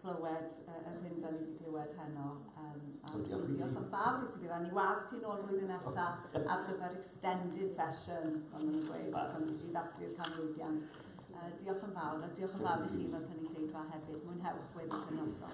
S1: clywed uh, yr hyn da ni wedi clywed heno. Um, a o, diolch, diolch yn fawr i ti fi. Ni weld ti'n ôl flwyddyn nesaf ar gyfer extended session, ond yn y gweud, pan i ddathlu'r canmlwyddiant. Uh, diolch yn fawr, a diolch yn fawr i chi fel cynulleidfa hefyd. Mwynhewch weddill y noson.